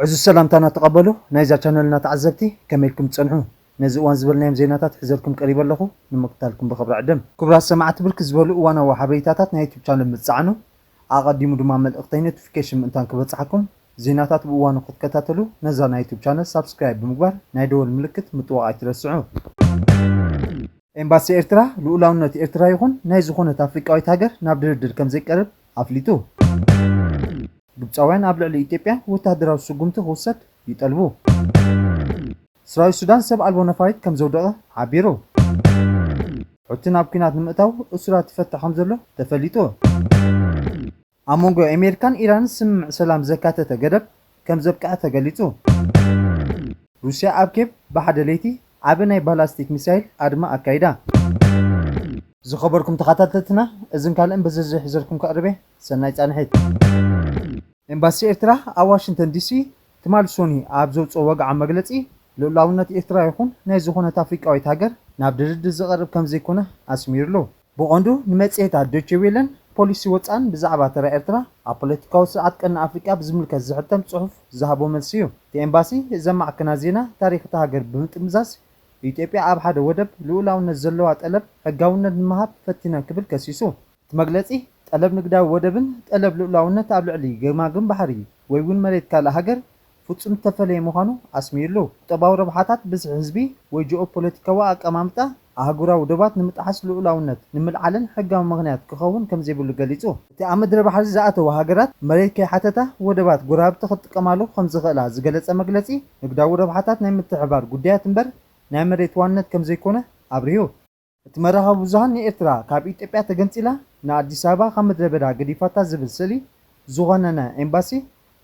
ዕዙዝ ሰላምታና ተቐበሉ ናይዛ ቻነልና ተዓዘብቲ ከመይ ኢልኩም ትጸንሑ ነዚ እዋን ዝበልናዮም ዜናታት ሕዘልኩም ቀሪበ ኣለኹ ንምክታልኩም ብኽብሪ ዕድም። ክቡራት ሰማዕቲ ብርክት ዝበሉ እዋናዊ ሓበሬታታት ናይ ዩቱብ ቻነል ምትጻዕኑ። ኣቐዲሙ ድማ መልእኽተይ ኖቲፊኬሽን ምእንታን ክበጽሓኩም ዜናታት ብእዋኑ ክትከታተሉ ነዛ ናይ ዩቱብ ቻነል ሳብስክራይብ ብምግባር ናይ ደወል ምልክት ምጥዋቕ ኣይትረስዑ። ኤምባሲ ኤርትራ ልኡላውነት ኤርትራ ይኹን ናይ ዝኾነት ኣፍሪቃዊት ሃገር ናብ ድርድር ከምዘይቀርብ ኣፍሊጡ። ግብጻውያን ኣብ ልዕሊ ኢትዮጵያ ወተሃደራዊ ስጉምቲ ክውሰድ ይጠልቡ። ሰራዊት ሱዳን ሰብ ኣልቦ ነፋሪት ከም ዘውደቐ ሓቢሩ። ሑቲ ናብ ኲናት ንምእታው እሱራት ይፈትሕ ከም ዘሎ ተፈሊጡ። ኣብ መንጎ ኣሜሪካን ኢራንን ስምምዕ ሰላም ዘካተተ ገደብ ከም ዘብቅዐ ተገሊጹ። ሩስያ ኣብ ኬቭ ብሓደ ለይቲ ዓቢ ናይ ባላስቲክ ሚሳይል ኣድማ ኣካይዳ። ዝኸበርኩም ተኻታተልትና እዝን ካልእን ብዝርዝር ሒዘልኩም ከቕርብ'የ ሰናይ ጻንሒት። ኤምባሲ ኤርትራ ኣብ ዋሽንተን ዲሲ ትማል ሶኒ ኣብ ዘውጽኦ ወግዓዊ መግለጺ፣ ልኡላውነት ኤርትራ ይኹን ናይ ዝኾነት ኣፍሪቃዊት ሃገር ናብ ድርድር ዝቐርብ ከምዘይኮነ ኣስሚርሉ። ብቐንዱ ንመጽሔታት ዶቼ ዌለን ፖሊሲ ወጻእን ብዛዕባ ተራ ኤርትራ ኣብ ፖለቲካዊ ስርዓት ቀርኒ ኣፍሪቃ ብዝምልከት ዝሕተም ጽሑፍ ዝሃቦ መልሲ'ዩ። እቲ ኤምባሲ እዘን ማዕከናት ዜና ታሪኽ እታ ሃገር ብምጥምዛዝ ኢትዮጵያ ኣብ ሓደ ወደብ ልኡላውነት ዘለዋ ጠለብ ሕጋውነት ንምሃብ ፈቲና ክብል ከሲሱ። እቲ መግለጺ፣ ጠለብ ንግዳዊ ወደብን ጠለብ ልኡላውነት ኣብ ልዕሊ ገማግም ባሕሪ ወይ'ውን መሬት ካልእ ሃገር ፍጹም ዝተፈለየ ምዃኑ ኣስሚርሉ። ቁጠባዊ ረብሓታት፣ ብዝሒ ህዝቢ፣ ወይ ጂኦፖለቲካዊ ኣቀማምጣ ኣህጉራዊ ዶባት ንምጥሓስ ልኡላውነት ንምልዓለን ሕጋዊ ምኽንያት ክኸውን ከምዘይብሉ ገሊጹ። እቲ ኣብ ምድረ ባሕሪ ዝኣተዋ ሃገራት መሬት ከይሓተታ ወደባት ጎረባብቲ ክጥቀማሉ ከምዝኽእላ ዝገለጸ መግለጺ፣ ንግዳዊ ረብሓታት ናይ ምትሕብባር ጉዳያት እምበር ናይ መሬት ዋንነት ከምዘይኮነ ኣብሪሁ። እቲ መራኸቢ ብዙሃን ንኤርትራ ካብ ኢትዮጵያ ተገንጺላ ንኣዲስ ኣበባ ካብ ምድረ በዳ ገዲፋታ ዝብል ስእሊ ዝኾነነ ኤምባሲ፣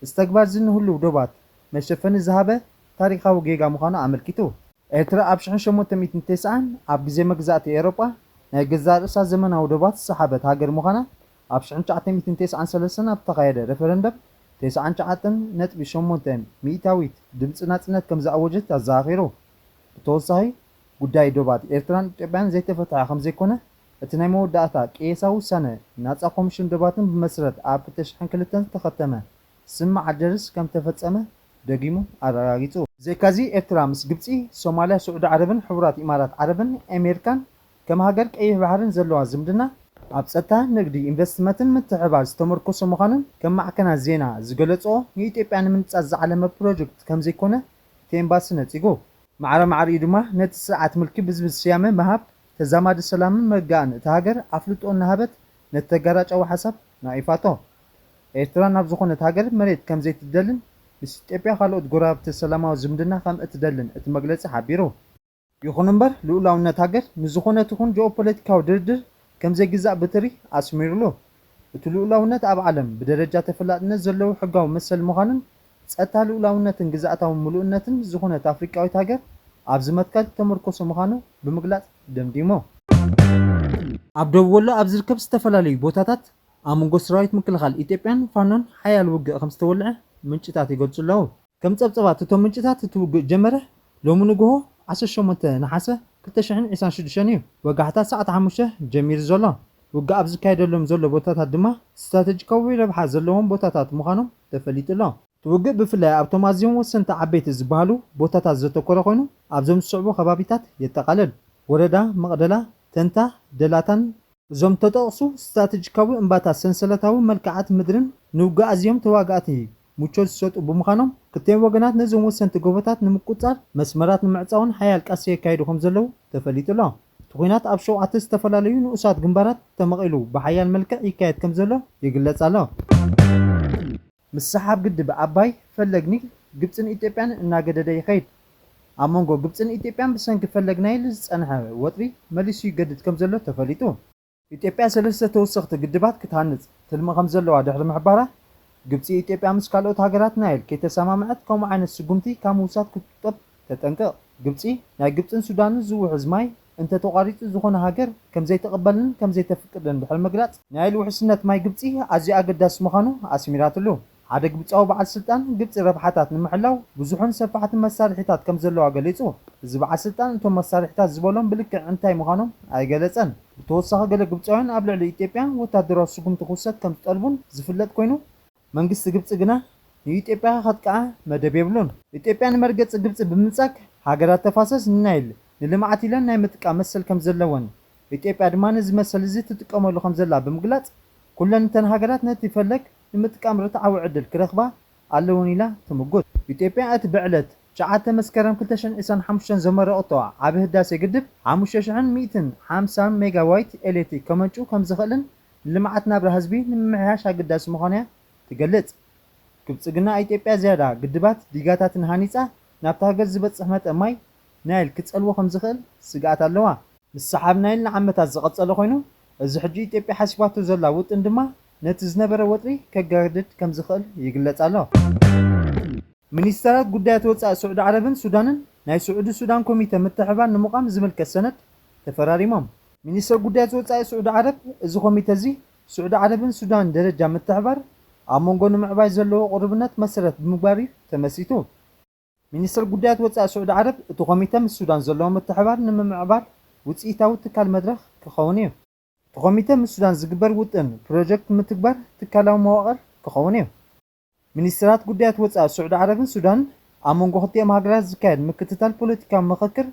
እዚ ተግባር'ዚ ንህሉው ዶባት መሸፈኒ ዝሃበ ታሪኻዊ ጌጋ ምዃኑ ኣመልኪቱ። ኤርትራ ኣብ ሽሕን ሸሞንተ ሚእትን ተስዓን ኣብ ግዜ መግዛእቲ ኤውሮጳ ናይ ገዛእ ርእሳ ዘመናዊ ዶባት ዝሰሓበት ሃገር ምዃና ኣብ ሽሕን ትሽዓተ ሚእትን ተስዓን ሰለስተን ኣብ ዝተኻየደ ረፈረንደም ተስዓን ትሽዓተን ነጥቢ ሸሞንተ ሚእታዊት ድምጺ ናጽነት ከምዝኣወጀት ኣዘኻኺሩ። ብተወሳኺ፣ ጉዳይ ዶባት ኤርትራን ኢትዮጵያን ዘይተፈትሐ ከምዘይኮነ፣ እቲ ናይ መወዳእታ ቅየሳ ውሳነ ናጻ ኮምሽን ዶባትን ብመስረት ኣብ ክልተ ሽሕን ክልተን ዝተኸተመ ስም መዓደርስ ከምተፈጸመ ደጊሙ ኣረጋጊጹ። ብዘይካዚ ኤርትራ ምስ ግብጺ፣ ሶማልያ፣ ስዑዲ ዓረብን ሕቡራት ኢማራት ዓረብን ኤሜርካን ከም ሃገር ቀይሕ ባሕርን ዘለዋ ዝምድና፣ ኣብ ጸጥታ፣ ንግዲ፣ ኢንቨስትመትን ምትሕብባር ዝተመርኮሰ ምዃኑን ከም ማዕከናት ዜና ዝገለጽኦ ንኢትዮጵያ ንምንጻት ዝዓለመ ፕሮጀክት ከምዘይኮነ እቲ ኤምባሲ ነጺጉ። ማዕረ ማዕረ ኢዩ ድማ ነቲ ስርዓት ምልኪ ብዝብል ስያመ ምሃብ ተዛማዲ ሰላምን ምርግጋእን እታ ሃገር ኣፍልጦ እናሃበት ነቲ ተጋራጫዊ ሓሳብ ነቒፋቶ። ኤርትራ ናብ ዝኾነት ሃገር መሬት ከም ዘይትደልን ምስ ኢትዮጵያ ካልኦት ጎረባብቲ ሰላማዊ ዝምድና ከም እትደልን እቲ መግለጺ ሓቢሩ። ይኹን እምበር ልኡላውነት ሃገር ንዝኾነ ትኹን ጂኦፖለቲካዊ ድርድር ከም ዘይግዛእ ብትሪ ኣስሚሩሉ። እቲ ልኡላውነት ኣብ ዓለም ብደረጃ ተፈላጥነት ዘለዎ ሕጋዊ መሰል ምዃኑን ጸጥታ ልኡላውነትን ግዝኣታዊ ምሉእነትን ዝኾነት ኣፍሪቃዊት ሃገር ኣብዚ መትከል እተመርኮሰ ምዃኑ ብምግላጽ ደምዲሙ። ኣብ ዶብ ወሎ ኣብ ዝርከብ ዝተፈላለዩ ቦታታት ኣብ መንጎ ሰራዊት ምክልኻል ኢትዮጵያን ፋኖን ሓያል ውግእ ከምዝተወልዐ ምንጭታት ይገልጹ ኣለዉ። ከም ጸብጸባት እቶም ምንጭታት እቲ ውግእ ዝጀመረ ሎሚ ንጉሆ ዓሰርተ ሸሞንተ ነሓሰ ክልተ ሽሕን ዒስራን ሽዱሽተን እዩ። ወጋሕታ ሰዓት ሓሙሽተ ጀሚሩ ዘሎ ውግእ ኣብ ዝካየደሎም ዘሎ ቦታታት ድማ ስትራተጂካዊ ረብሓ ዘለዎም ቦታታት ምዃኖም ተፈሊጡ ኣሎ። እቲ ውግእ ብፍላይ ኣብቶም ኣዝዮም ወሰንቲ ዓበይቲ ዝበሃሉ ቦታታት ዘተኮረ ኮይኑ ኣብዞም ዝስዕቡ ከባቢታት የጠቓልል፣ ወረዳ መቕደላ፣ ተንታ፣ ደላታን፣ እዞም እተጠቕሱ ስትራተጂካዊ እምባታት ሰንሰለታዊ መልክዓት ምድርን ንውግእ ኣዝዮም ተዋጋእቲ ምቾት ዝሰጡ ብምዃኖም፣ ክልቲኦም ወገናት ነዞም ወሰንቲ ጎቦታት ንምቁጽጻር መስመራት ንምዕጻውን ሓያል ቃልሲ የካይዱ ከም ዘለዉ ተፈሊጡ ኣሎ። እቲ ኲናት ኣብ ሸውዓተ ዝተፈላለዩ ንኡሳት ግንባራት ተመቒሉ ብሓያል መልክዕ ይካየድ ከም ዘሎ ይግለጽ ኣሎ። ምስሓብ ግድብ ኣባይ ፈለግ ኒል ግብፅን ኢትዮጵያን እናገደደ ይኸይድ። ኣብ መንጎ ግብፅን ኢትዮጵያን ብሰንኪ ፈለግ ናይል ዝፀንሐ ወጥሪ መሊሱ ይገድድ ከምዘሎ ተፈሊጡ። ኢትዮጵያ ሰለስተ ተወሰኽቲ ግድባት ክትሃንፅ ትልሚ ከምዘለዋ ድሕሪ ምሕባራ፣ ግብፂ ኢትዮጵያ ምስ ካልኦት ሃገራት ናይል ከይተሰማምዐት ከምኡ ዓይነት ስጉምቲ ካብ ምውሳድ ክትቁጠብ ተጠንቀቕ ግብጺ፣ ናይ ግብጽን ሱዳንን ዝውሕዝ ማይ እንተ ተቋሪጹ ዝኾነ ሃገር ከም ዘይትቕበልን ከም ዘይተፍቅድን ድሕሪ ምግላጽ፣ ናይል ውሕስነት ማይ ግብጺ ኣዝዩ ኣገዳሲ ምዃኑ ኣስሚራትሉ። ሓደ ግብጻዊ በዓል ስልጣን፣ ግብጺ ረብሓታት ንምሕላው ብዙሕን ሰፋሕትን መሳርሒታት ከም ዘለዋ ገሊጹ። እዚ በዓል ስልጣን እቶም መሳርሒታት ዝበሎም ብልክዕ እንታይ ምዃኖም ኣይገለጸን። ብተወሳኺ ገለ ግብጻውያን ኣብ ልዕሊ ኢትዮጵያ ወተሃደራዊ ስጉምቲ ክውሰድ ከም ዝጠልቡን ዝፍለጥ ኮይኑ፣ መንግስቲ ግብጺ ግና ንኢትዮጵያ ከጥቅዓ መደብ የብሉን። ኢትዮጵያ ንመርገጺ ግብጺ ብምንጻግ ሃገራት ተፋሰስ ንናይል ንልምዓት ኢለን ናይ ምጥቃም መሰል ከምዘለወን ኢትዮጵያ ድማ ነዚ መሰል እዚ ትጥቀመሉ ከምዘላ ብምግላጽ ኩለን እተን ሃገራት ነቲ ፈለግ ንምጥቃም ርትዓዊ ዕድል ክረኽባ ኣለወን ኢላ ትምጉት። ኢትዮጵያ እቲ ብዕለት ትሽዓተ መስከረም ክልተ ሽሕን ዒስራን ሓሙሽተን ዘመረቐቶ ዓቢ ህዳሴ ግድብ ሓሙሽተ ሽሕን ሚእትን ሓምሳን ሜጋዋይት ኤሌትሪክ ከመንጩ ከምዝኽእልን ልምዓት ናብራ ህዝቢ ንምምሕያሽ ኣገዳሲ ምዃኑ'ያ ትገልጽ። ክብጽግና ኢትዮጵያ ዝያዳ ግድባት፣ ዲጋታትን ሃኒጻ ናብታ ሃገር ዝበጽሕ መጠን ማይ ናይል ክጸልዎ ከምዝኽእል ስግኣት ኣለዋ። ምስሓብ ናይል ንዓመታት ዝቐጸለ ኮይኑ፣ እዚ ሕጂ ኢትዮጵያ ሓሲባቶ ዘላ ውጥን ድማ ነቲ ዝነበረ ወጥሪ ከጋድድ ከምዝኽእል ይግለጽ ኣሎ። ሚኒስተራት ጉዳያት ወጻኢ ስዑዲ ዓረብን ሱዳንን፣ ናይ ስዑዲ-ሱዳን ኮሚተ ምትሕብባር ንምቛም ዝምልከት ሰነድ ተፈራሪሞም። ሚኒስተር ጉዳያት ወጻኢ ስዑዲ ዓረብ፣ እዚ ኮሚተ'ዚ ስዑዲ ዓረብን ሱዳንን ደረጃ ምትሕብባር ኣብ መንጎ ንምዕባይ ዘለዎ ቅሩብነት መሰረት ብምግባር'ዩ ተመስሪቱ። ሚኒስተር ጉዳያት ወጻኢ ስዑዲ ዓረብ፣ እቲ ኮሚተ ምስ ሱዳን ዘለዎ ምትሕብባር ንምምዕባል ውጽኢታዊ ትካል መድረኽ ክኸውን'ዩ። እቲ ኮሚተ ምስ ሱዳን ዝግበር ውጥን ፕሮጀክት ምትግባር ትካላዊ መዋቕር ክኸውን'ዩ። ሚኒስትራት ጉዳያት ወጻኢ ሱዕዲ ዓረብን ሱዳንን ኣብ መንጎ ክልቲኦም ሃገራት ዝካየድ ምክትታል ፖለቲካዊ ምኽክር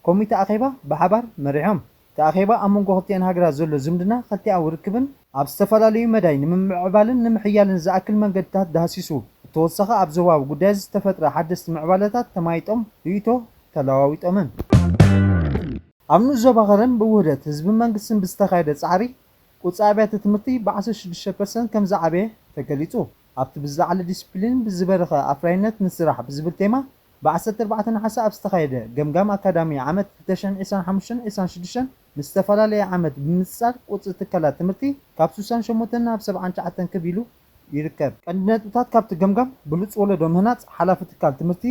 ኮሚተ ኣኼባ ብሓባር መሪሖም። እቲ ኣኼባ ኣብ መንጎ ክልቲኤን ሃገራት ዘሎ ዝምድና ክልቲኣዊ ርክብን፣ ኣብ ዝተፈላለዩ መዳይ ንምምዕዕባልን ንምሕያልን ዝኣክል መንገድታት ዳህሲሱ፣ ብተወሳኺ ኣብ ዞባዊ ጉዳያት ዝተፈጥረ ሓደስቲ ምዕባለታት ተማይጦም ርእይቶ ተለዋዊጦምን። ኣብ ንኡስ ዞባ ከረን ብውህደት ህዝብን መንግስትን ብዝተኻየደ ጻዕሪ ቁጽሪ ኣብያተ ትምህርቲ ብዓሰርተ ሽዱሽተ ፐርሰንት ከምዝዓበየ ተገሊጹ። ኣብቲ ብዝለዓለ ዲሲፕሊንን ብዝበረኸ ኣፍራይነት ንስራሕ ብዝብል ቴማ ብ ዓሰርተ ኣርባዕተ ነሓሰ ኣብ ዝተኻየደ ገምጋም ኣካዳሚ ዓመት ክልተ ሽሕን ዒስራን ሓሙሽተን ዒስራን ሽዱሽተን ምስ ዝተፈላለየ ዓመት ብምንጽጻር ቁጽሪ ትካላት ትምህርቲ ካብ ስሳን ሸሞንተን ናብ ሰብዓን ትሽዓተን ክብ ኢሉ ይርከብ። ቀንዲ ነጥብታት ካብቲ ገምጋም ብሉጽ ወለዶ ምህናጽ ሓላፊ ትካል ትምህርቲ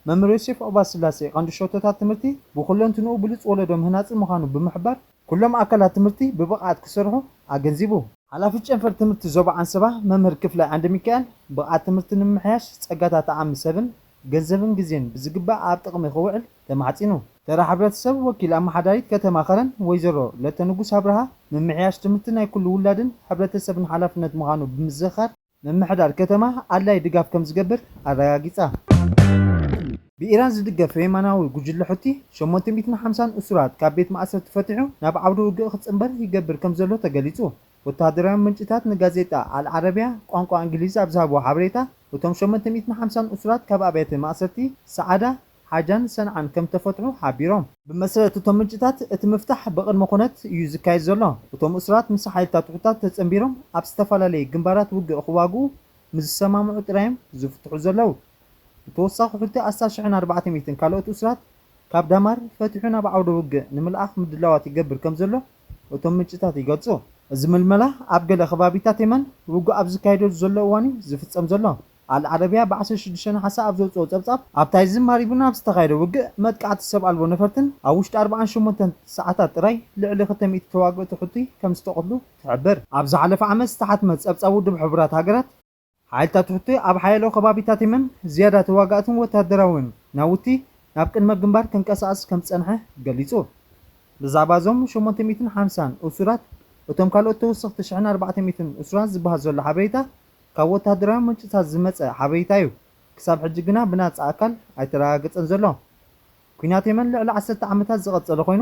መምህር ዮሴፍ ዑባስላሴ ቀንዲ ሸቶታት ትምህርቲ ብኹለንትንኡ ብሉጽ ወለዶ ምህናጽን ምዃኑ ብምሕባር፣ ኩሎም ኣካላት ትምህርቲ ብብቕዓት ክሰርሑ ኣገንዚቡ። ሓላፊት ጨንፈር ትምህርቲ ዞባ ዓንሰባ መምህር ክፍለ ዓንደሚካኤል፣ ብቕዓት ትምህርቲ ንምምሕያሽ ፀጋታት ዓቕሚ ሰብን ገንዘብን ግዜን ብዝግባእ ኣብ ጥቕሚ ክውዕል ተማሕፂኑ። ተራ ሕብረተሰብ ወኪል ኣመሓዳሪት ከተማ ከረን ወይዘሮ ለተንጉስ ኣብርሃ፣ ምምሕያሽ ትምህርቲ ናይ ኩሉ ውላድን ሕብረተሰብን ሓላፍነት ምዃኑ ብምዝኽኻር፣ ምምሕዳር ከተማ ኣድላዪ ድጋፍ ከምዝገብር ኣረጋጊጻ። ብኢራን ዝድገፍ የማናዊ ጉጅለ ሑቲ፣ ሸሞንተ ሚእትን ሓምሳን እሱራት ካብ ቤት ማእሰርቲ ፈቲሑ ናብ ዓውደ ውግእ ክጽንበር ይገብር ከምዘሎ ተገሊጹ። ወተሃደራዊ ምንጭታት ንጋዜጣ ኣል ዓረብያ ቋንቋ እንግሊዝ ኣብ ዝሃብዎ ሓበሬታ፣ እቶም ሸሞንተ ሚእትን ሓምሳን እሱራት ካብ ኣብያተ ማእሰርቲ ሰዓዳ፣ ሓጃን ሰንዓን ከም እተፈትሑ ሓቢሮም። ብመሰረት እቶም ምንጭታት፣ እቲ ምፍታሕ ብቕድመ ኹነት እዩ ዝካየድ ዘሎ። እቶም እሱራት ምስ ሓይልታት ሑቲታት ተጸንቢሮም ኣብ ዝተፈላለየ ግንባራት ውግእ ኽዋግኡ ምስ ዝሰማምዑ ጥራይ እዮም ዝፍትሑ ዘለዉ። ብተወሳኺ ሑቲ ኣስታት ሽሕን ኣርባዕተ ሚእትን ካልኦት እሱራት ካብ ዳማር ፈቲሑ ናብ ዓውደ ውግእ ንምልኣኽ ምድላዋት ይገብር ከም ዘሎ እቶም ምንጭታት ይገልጹ። እዚ ምልመላ ኣብ ገለ ኸባቢታት የመን ውግእ ኣብ ዝካየደሉ ዘሎ እዋን እዩ ዝፍጸም ዘሎ። ኣል ዓረብያ ብ ዓሰርተ ሽዱሽተ ነሓሰ ኣብ ዘውጽኦ ጸብጻብ፣ ኣብ ታይዝን ማሪብን ኣብ ዝተኻየደ ውግእ መጥቃዕቲ ሰብ ኣልቦ ነፈርትን ኣብ ውሽጢ ኣርብዓን ሸሞንተን ሰዓታት ጥራይ ልዕሊ ክልተ ሚእቲ ተዋግእቲ ሑቲ ከምዝተቐትሉ ትሕብር። ኣብ ዝሓለፈ ዓመት ዝተሓትመ ጸብጻብ ውድብ ሕቡራት ሃገራት፣ ሓይልታት ሑቲ ኣብ ሓያሎ ከባቢታት የመን ዝያዳ ተዋጋእትን ወተሃደራውያን ናውቲ ናብ ቅድመ ግንባር ከንቀሳቕስ ከምዝጸንሐ ገሊጹ። ብዛዕባ እዞም ሸሞንተ ሚእትን ሓምሳን እሱራት እቶም ካልኦት ተወሰኽቲ ሽሕን ኣርባዕተ ሚእትን እሱራት ዝበሃል ዘሎ ሓበሬታ ካብ ወተሃደራዊ ምንጭታት ዝመጸ ሓበሬታ'ዩ ክሳብ ሕጂ ግና ብናጻ ኣካል ኣይተረጋገጸን ዘሎ። ኲናት የመን ልዕሊ ዓሰርተ ዓመታት ዝቐጸለ ኮይኑ፣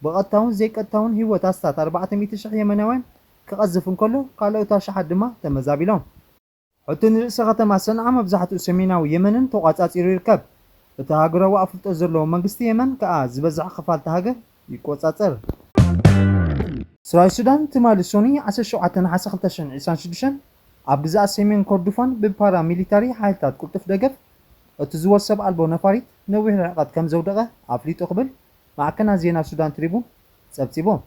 ብቐጥታውን ዘይቀጥታውን ህይወት ኣስታት ኣርባዕተ ሚእቲ ሽሕ የመናውያን ክቐዝፍ እንከሎ፣ ካልኦት ኣሽሓት ድማ ተመዛቢሎም። ሕቲ ንርእሰ ከተማ ሰንዓ መብዛሕትኡ ሰሜናዊ የመንን ተቖጻጺሩ ይርከብ። እቲ ሃገራዊ ኣፍልጦ ዘለዎ መንግስቲ የመን ከኣ ዝበዝሕ ክፋል'ታ ሃገር ይቆጻጸር። ሰራዊት ሱዳን ትማሊ ሶኑይ ዓሰርተ ሸውዓተ ነሓሰ ክልተ ሽሕን ዕስራን ሽዱሽተን ኣብ ግዝኣት ሰሜን ኮርዱፋን ብፓራ ሚሊታሪ ሓይልታት ቅልጡፍ ደገፍ እትዝወር ሰብ ኣልቦ ነፋሪት ነዊሕ ርሕቐት ከምዘውደቐ ኣፍሊጡ ክብል ማዕከናት ዜና ሱዳን ትሪቡን ጸብጺቦም።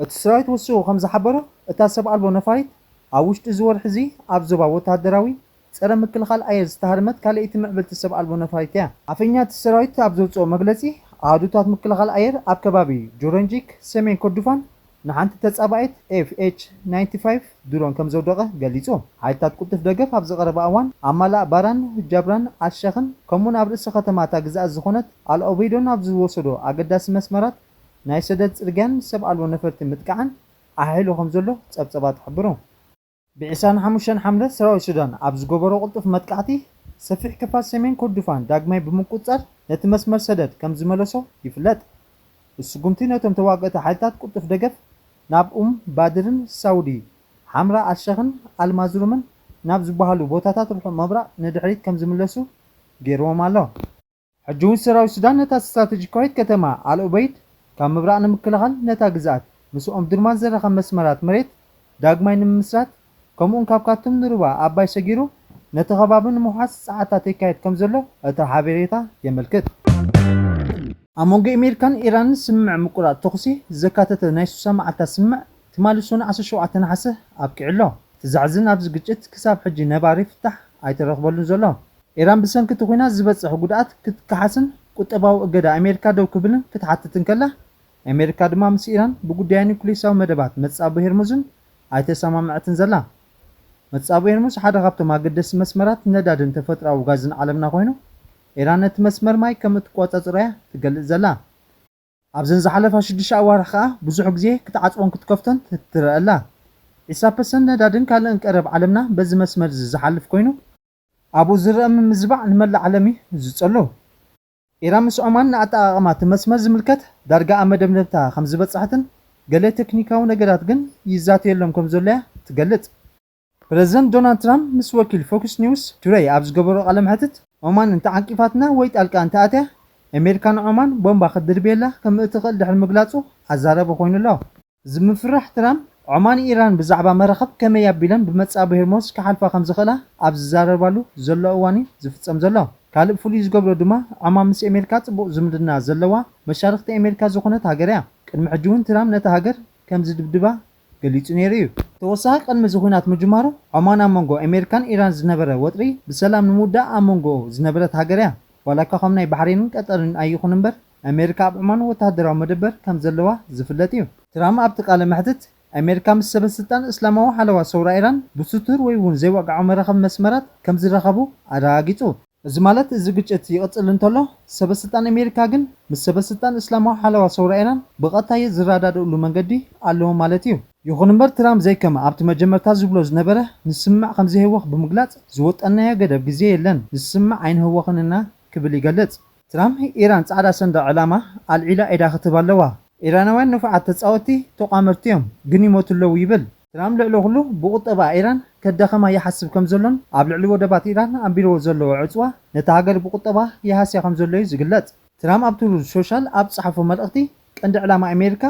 እቲ ሰራዊት ወሲኹ ከም ዝሓበሮ፣ እታ ሰብ ኣልቦ ነፋሪት ኣብ ውሽጢ እዚ ወርሒ'ዚ ኣብ ዞባ ወተሃደራዊ ጸረ ምክልኻል ኣየር ዝተሃርመት ካልኣይቲ ምዕብልቲ ሰብ ኣልቦ ነፋሪት እያ። ኣፈኛ እቲ ሰራዊት ኣብ ዘውጽኦ መግለጺ፣ ኣሃዱታት ምክልኻል ኣየር ኣብ ከባቢ ጆረንጂክ፣ ሰሜን ኮርዱፋን ንሓንቲ ተጻባኢት ኤፍ ኤች ናይንቲ ፋይቭ ድሮን ከም ዘውደቐ ገሊጹ። ሓይልታት ቅልጡፍ ደገፍ ኣብዚ ቀረባ እዋን ኣብ ማላእ ባራን፣ ጃብራን፣ ኣል-ሸኽን ከምኡ'ውን ኣብ ርእሰ ከተማ እታ ግዝኣት ዝኾነት ኣል-ኦበይዶን ኣብ ዝወሰዶ ኣገዳሲ መስመራት ናይ ሰደድ ጽርግያን ሰብ ኣልቦ ነፈርቲ ምጥቃዕን ኣሐይሉ ከም ዘሎ ጸብጸባት ሐብሩ። ብ ዕስራን ሓሙሽተን ሓምለ ሰራዊት ሱዳን ኣብ ዝገበሮ ቅልጡፍ መጥቃዕቲ ሰፊሕ ክፋል ሰሜን ኮርዱፋን ዳግማይ ብምቁጽጻር ነቲ መስመር ሰደድ ከም ዝመለሶ ይፍለጥ። ብ ስጉምቲ ነቶም ተዋገእቲ ሓይልታት ቅልጡፍ ደገፍ ናብ ኡም ባድርን ሳውዲ ሓምራ ኣልሸኽን ኣልማዝሩምን ናብ ዝበሃሉ ቦታታት ርሑቕ ምብራቕ ንድሕሪት ከም ዝምለሱ ገይርዎም ኣሎ። ሕጂ'ውን ሰራዊት ሱዳን ነታ ስትራተጂካዊት ከተማ ኣል-ኡበይድ ካብ ምብራቕ ንምክልኻል፣ ነታ ግዝኣት ምስ ኦምዱርማን ዘራኽብ መስመራት መሬት ዳግማይ ንምምስራት፣ ከምኡ'ውን ካብ ካርቱም ንሩባ ኣባይ ሰጊሩ ነቲ ከባቢ ንምውሓስ ጸዓታት የካይድ ከምዘሎ እቲ ሓቤሬታ የመልክት። ኣብ መንጎ ኢሜሪካን ኢራንን ስምምዕ ምቁራጽ ተኹሲ ዘካተተ ናይ ሱሳ መዓልታት ስምምዕ ትማሊ ሰኑይ ዓሰርተ ሸውዓተ ነሓሰ ኣብቂዑ ኣሎ። እቲ ዘሕዝን ኣብዚ ግጭት ክሳብ ሕጂ ነባሪ ፍታሕ ኣይተረኽበሉን ዘሎ። ኢራን ብሰንኪ እቲ ኲናት ዝበጽሕ ጉድኣት ክትከሓስን ቁጠባዊ እገዳ ኣሜሪካ ደው ክብልን ክትሓትት እንከላ፣ ኣሜሪካ ድማ ምስ ኢራን ብጉዳይ ኑክልየሳዊ መደባት መጻብቦ ሄርሙዝን ኣይተሰማምዐትን ዘላ። መጻብቦ ሄርሙዝ ሓደ ካብቶም ኣገደስቲ መስመራት ነዳድን ተፈጥሮኣዊ ጋዝን ዓለምና ኮይኑ፣ ኢራን ነቲ መስመር ማይ ከም እትቆጻጸሮ'ያ ትገልጽ ዘላ። ኣብዘን ዝሓለፋ ሽዱሽተ ኣዋርሕ ከኣ ብዙሕ ግዜ ክትዓጽቦን ክትከፍቶን ትርኣ ኣላ። ዒስራ ፐርሰንት ነዳድን ካልእን ቀረብ ዓለምና በዚ መስመር'ዚ ዝሓልፍ ኮይኑ፣ ኣብኡ ዝርኣ ምምዝባዕ ንመላእ ዓለም እዩ ዝጸሉ። ኢራን ምስ ዖማን ንኣጠቓቕማ እቲ መስመር ዝምልከት ዳርጋ ኣብ መደምደምታ ከም ዝበጽሐትን ገለ ተክኒካዊ ነገራት ግን ይዛተየሎም ከም ዘሎ እያ ትገልጽ። ፕረዚደንት ዶናልድ ትራምፕ ምስ ወኪል ፎክስ ኒውስ ቱደይ ኣብ ዝገበሮ ቃለ መሕትት፣ ዖማን እንተ ዓንቂፋትና ወይ ጣልቃ እንተ ኣትያ፣ ኣሜሪካ ንዖማን ቦምባ ክትድርብየላ ከም እትኽእል ድሕሪ ምግላጹ ኣዛራቢ ኮይኑ ኣሎ። ዝምፍራሕ ትራምፕ፣ ዖማን ኢራን ብዛዕባ መራኽብ ከመይ ኣቢለን ብመጻብቦ ሄርሞዝ ክሓልፋ ከም ዝኽእላ ኣብ ዝዛረባሉ ዘሎ እዋን'ዩ ዝፍጸም ዘሎ። ካልእ ፍሉይ ዝገብሮ ድማ፣ ዖማን ምስ ኤሜርካ ጽቡቕ ዝምድና ዘለዋ መሻርኽቲ ኤሜርካ ዝኾነት ሃገር'ያ። ቅድሚ ሕጂ'ውን ትራም ነታ ሃገር ከም ዝድብድባ ገሊጹ ነይሩ'ዩ። ተወሳኺ ቅድሚ እዚ ኹናት ምጅማሩ፣ ዖማን ኣብ መንጎ ኤሜርካን ኢራን ዝነበረ ወጥሪ ብሰላም ንምውዳእ ኣብ መንጎ ዝነበረት ሃገር'ያ። ዋላ'ኳ ከም ናይ ባሕሬንን ቀጠርን ኣይኹን'ምበር፣ ኣሜሪካ ኣብ ዑማን ወተሃደራዊ መደበር ከም ዘለዋ ዝፍለጥ እዩ። ትራም ኣብቲ ቃለ መሕትት፣ ኣሜሪካ ምስ ሰበ ስልጣን እስላማዊ ሓለዋ ሰውራ ኢራን ብስቱር ወይ እውን ዘይወግዓዊ መራኸቢ መስመራት ከም ዝራኸቡ ኣረጋጊጹ። እዚ ማለት እዚ ግጭት ይቕጽል እንተሎ፣ ሰበ ስልጣን ኣሜሪካ ግን ምስ ሰበ ስልጣን እስላማዊ ሓለዋ ሰውራ ኢራን ብቐጥታየ ዝረዳድእሉ መንገዲ ኣለዎም ማለት እዩ። ይኹን እምበር ትራም ዘይከም ኣብቲ መጀመርታ ዝብሎ ዝነበረ ንስምምዕ ከም ዘይህወኽ ብምግላጽ ዝወጠንናዮ ገደብ ግዜ የለን፣ ንስምምዕ ኣይንህወኽን እና ክብል ይገልጽ። ትራምፕ ኢራን ጻዕዳ ሰንደቕ ዕላማ ኣልዒላ ኢዳ ክትህብ ኣለዋ። ኢራናውያን ንፉዓት ተጻወትቲ ተቋመርቲ'ዮም፣ ግን ይሞቱ ኣለዉ ይብል። ትራምፕ ልዕሊ ኩሉ ብቑጠባኣ ኢራን ከዳኸማ ይሓስብ ከም ዘሎን ኣብ ልዕሊ ወደባት ኢራን ኣንቢርዎ ዘሎ ዕጽዋ ነታ ሃገር ብቑጠባኣ ይሃስያ ከም ዘሎ'ዩ ዝግለጽ። ትራምፕ ኣብ ትሩዝ ሶሻል ኣብ ዝጸሓፎ መልእኽቲ፣ ቀንዲ ዕላማ ኣሜሪካ፣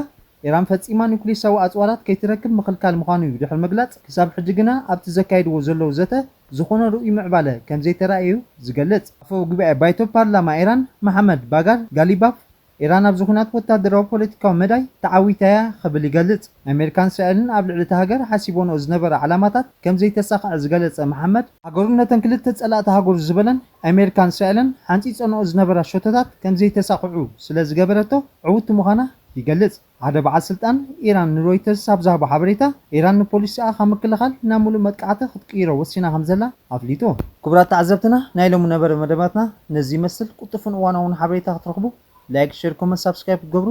ኢራን ፈጺማ ኑክሊሳዊ ኣጽዋራት ከይትረክብ ምኽልካል ምዃኑ'ዩ ድሕሪ ምግላጽ፣ ክሳብ ሕጂ ግና ኣብቲ ዘካይድዎ ዘለዉ ዘተ ዝዀነ ርኡይ ምዕባለ ከም ዘይተራእየ'ዩ ዝገልጽ። ኣፈ ጉባኤ ባይቶ ፓርላማ ኢራን መሓመድ ባጋር ጋሊባፍ፣ ኢራን ኣብዚ ኵናት ወተሃደራዊ ፖለቲካዊ መዳይ ተዓዊታ'ያ ክብል ይገልጽ። ኣሜሪካን እስራኤልን ኣብ ልዕሊ እታ ሃገር ሓሲቦንኦ ዝነበራ ዕላማታት ከም ዘይተሳኽዐ ዝገለጸ መሓመድ፣ ሃገሩ ነተን ክልተ ጸላእቲ ሃገሩ ዝበለን ኣሜሪካን እስራኤልን ሓንጺጸንኦ ዝነበራ ሸቶታት ከም ዘይተሳኽዑ ስለ ዝገበረቶ ዕውቲ ምዃና ይገልጽ። ሓደ በዓል ስልጣን ኢራን ንሮይተርስ ኣብ ዝሃቦ ሓበሬታ፣ ኢራን ንፖሊሲኣ ካብ ምክልኻል ናብ ምሉእ መጥቃዕቲ ክትቅይሮ ወሲና ከም ዘላ ኣፍሊጡ። ክቡራት ተዓዘብትና ናይ ሎሚ ነበረ መደባትና ነዚ ይመስል ቁልጡፍን እዋናውን ሓበሬታ ክትረኽቡ ላይክ ሸር ኮመንት ሳብስክራይብ ክትገብሩ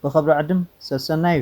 ብኽብሪ ዕድም ሰሰናዩ።